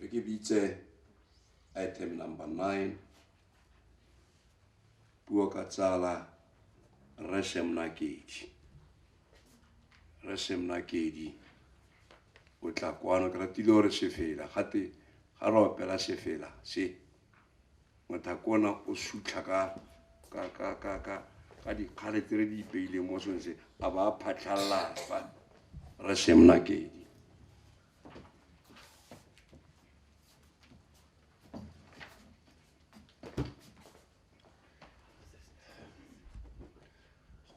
Rekebitse item number 9 puo ka tsala rre semnakedi rre semnakedi o tla kwano ke ratile gore sefela gate ga re opela sefela se ngata ke ona o sutlha ka ka ka ka ka ka dikgare tse re di ipeileng mo sone se a ba a phatlhalela fa re semna kedi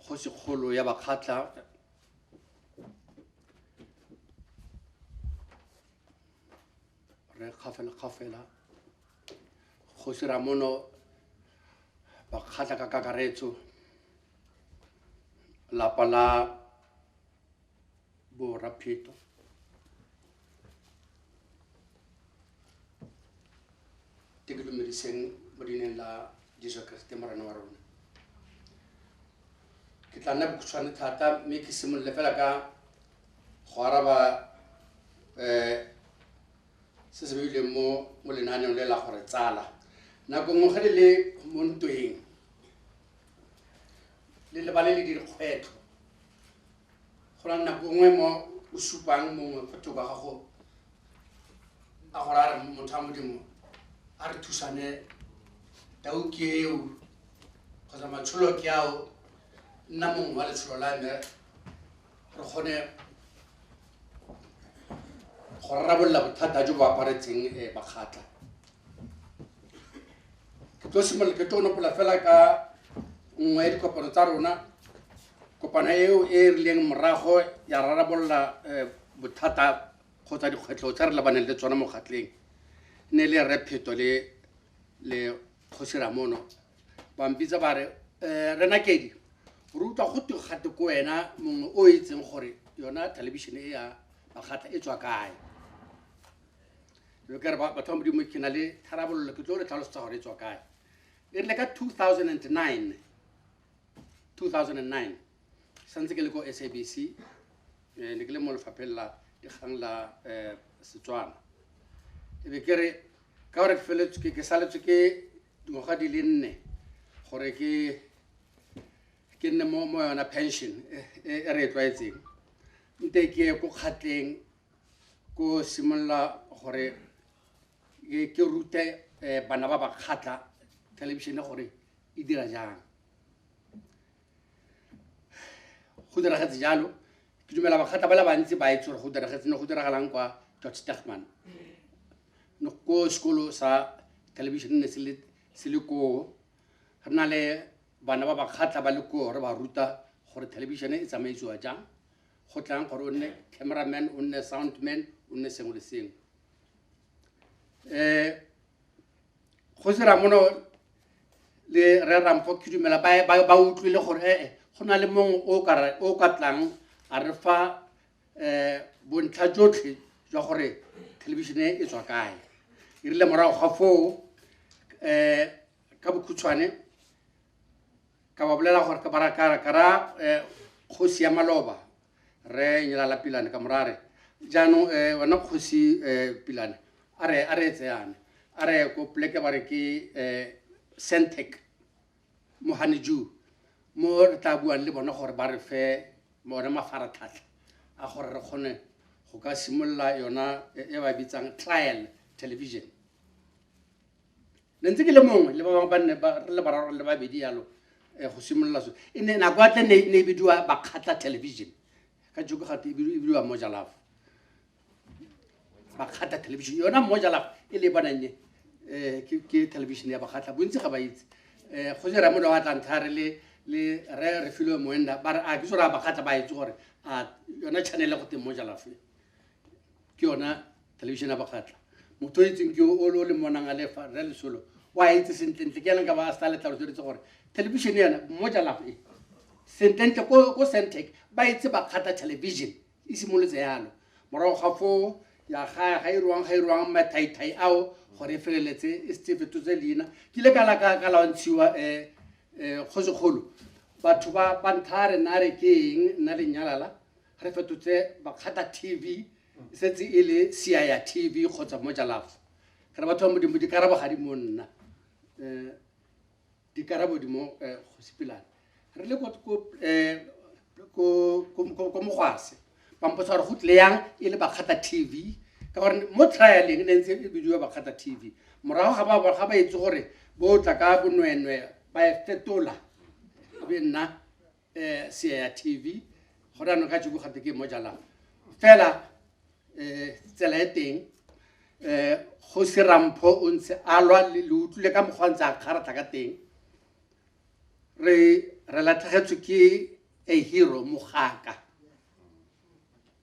kgosikgolo ya bakgatla re kgafela kgafela kgosi ramono bakgatla ka kakaretso lapa la borapheto te ke dumediseng mo dineng la jesu keresete morena wa rona ke tla nna bokhutshwane thata mme ke simolole fela ka go araba um se se beileng mo mo lenaaneng le la gore tsala nako nngwe ge le le mo ntweng le lebale le dikgwetlho go na nako nngwe mo o supang mongwe go thoko ga gago a gore a re motho a modimo a re thusane tau ke eo kgotsa matsholo ke ao nna mongwe wa letsholo la me re kgone go rarabolola bothata jo bo aparetseng um eh, bakgatla ke tlo simolola ke tlo nopola fela ka nngwe ya dikopano tsa rona kopano eo e e rileng morago ya rarabolola um bothata kgotsa dikgwetlho tse re lebaneng le tsona mo kgatleng ne le repheto le le kgosi ramono ba mpitsa ba re um rena kedi re utlwa go twe gate ko wena mongwe o e itseng gore yona thelebišene e ya makgatla e tswa kae kare batho ba modimo ke na le tharabololo ke tlo re tlhalosetsa gore e tswa kae e rile ka 2009 2009 santse ke le ko sabc eh, ne ke le mo lefapheng la dikgang la eh, setswana e be ke re ka gore ke feletswe ke- ke saletswe ke dingwaga di le nne gore ke ke nne mo mo yona pension e e- e re e tlwaetseng nte ke ye ko kgatleng ko simolola gore ke ke rute eh, bana ba ba kgatla thelebišene gore e dira jang go diragetse jalo ke dumela bakgatla ba le bantsi ba itse gore go diragetse ne go diragalang kwa george stachman ne ko sekolo sa television ne se le- se le koo re na le bana ba bakgatla ba le koo re ba ruta gore television e tsamaisiwa jang go tlang gore o nne cameraman o nne soundman o nne sengwe le sengwe um kgosi ramono le re ramfo khidumela ba ba ba utlwile gore eh, eh go na le mongwe o ka ra- o ka tlang a re fa eh bontlha jotlhe jwa gore thelebišene e tswa kae e rile morago ga foo eh ka bokhutshwane ka ba bolela gore ka bara ka ka ra eh, kgosi ya maloba re nyelala pilane ka morare jaanong um wena kgosi um pilane a re a re etse yana a re ko poleke ba re ke um centec mo haneju mo re tla buang le bona gore ba re fe one mafaratlhatlha a gore re kgone go ka simolola yona e ba bitsang trial television ne ntse ke le mongwe le ba bangwe ba nne ba- re le bararo le babedi yalo eh, go simolola so e ne nako atle ne ne e bidiwa bakgatla television ka joko gate e bidiwa- e bidiwa mojalafo bakgatla television yona mojalafo e le e bonang e eh, ke- ke television ya bakgatla bontsi ga ba itse Eh, go jera mone wa tlanthare le le re re filwe moenda ba re a ke sore a bakgatla ba itse gore a yona channel go teng mojalafo e ke yona television ya bakgatla motho o itseng ke o o le monang a lefa rre lesolo o a itse sentlentle ke yanang ka ba a sa le tlhalosetse gore television yana mo jalafo e sentlentle ko centec ba itse bakgatla television e simolotse yalo morago ga foo ya ga ga irwang ga irwang mathaithai ao gore e feleletse e setse fetotse leina ke ile ka la ka ka lawantshiwa um kgosekgolo batho ba ba ntha re na re ke eng nna lenyalala Re fetotse Bakgata TV, e setse e le Siaya TV kgotsa Moja Love. Re batho ba Modimo, dikarabo ga di mo nna. Eh, dikarabo di mo eh, go sepilana. Re le ko ko eh, ko ko ko- ko mogwase. Ba mpotsa gore go tle yang e le Bakgata TV ka gore mo trialeng e ne ntse e bidiwa Bakgata TV. Morago ga ba ga ba itse gore bo tla ka bonwenwe ba e fetola e be nna um seya tv go ranong ka jeko gate ke mo jalang fela um tsela e teng um go serampho o ntse a lwa le utlwile ka mokgwa ntse a kgaratlha ka teng re re latlhegetswe ke a hero mogaka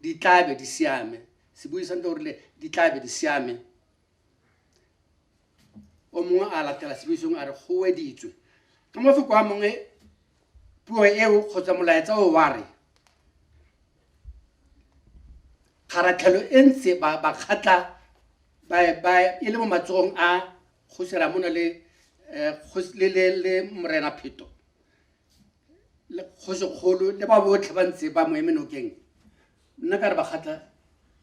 di tlabe di siame sebui sa ntle o rile di tlabe di siame o mongwe a latela sebui sengwe a re go weditswe ka mafoko a mongwe puo eo kgotsa molaetsa o wa re kgaratlhelo e ntse ba ba kgatla ba ba e le mo matsogong a kgosera mona le eh, kgos- le le le morena pheto le kgosikgolo le ba botlhe ba ntse ba mo eme nokeng nna ka re ba kgatla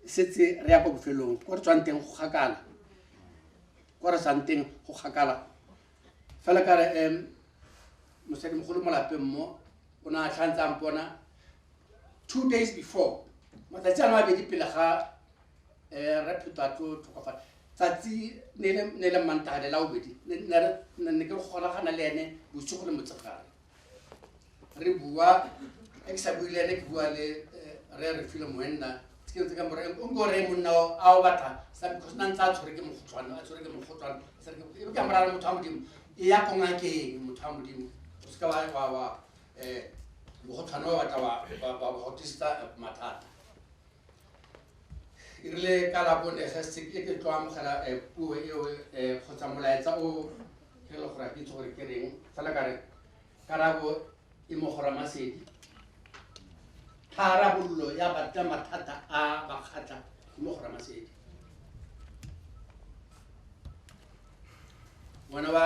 setse re ya kwa bofelong ko re tswang teng go kgakala ko re tswang teng go kgakala fela ka re um mosadimogolo mo lapeng mo o ne a tlhantse a mpona two days before matsatsi ano a bedi pele ga um re pheto a tlo tlhokofala tsatsi ne e le- ne e le mantagane la bobedi ne ne re- ne- ne ke golagana le ene bosigo le motsegare re bua e ke sa bue le ene ke bua le eh, re re file moenna ke ntse ka more o nko re monna o- a o batla sa because na ntse a tshwere ke mogotlhwane a tshwere ke mogotlhwane Sa re ke- e be ka morara motho wa modimo e ya ko ngakeng motho wa modimo o seka wa wa wa um mogotlhwane wa batla wa gotista mathata e rile ka labone ge se ke ke tlo amogela um puo eo um kgotsa molaetsa o ke le gore a ke itse gore ke reng fela ka re karabo e mogora masedi tharabololo ya batla mathata a bakgatla e mogora masedi ngwana wa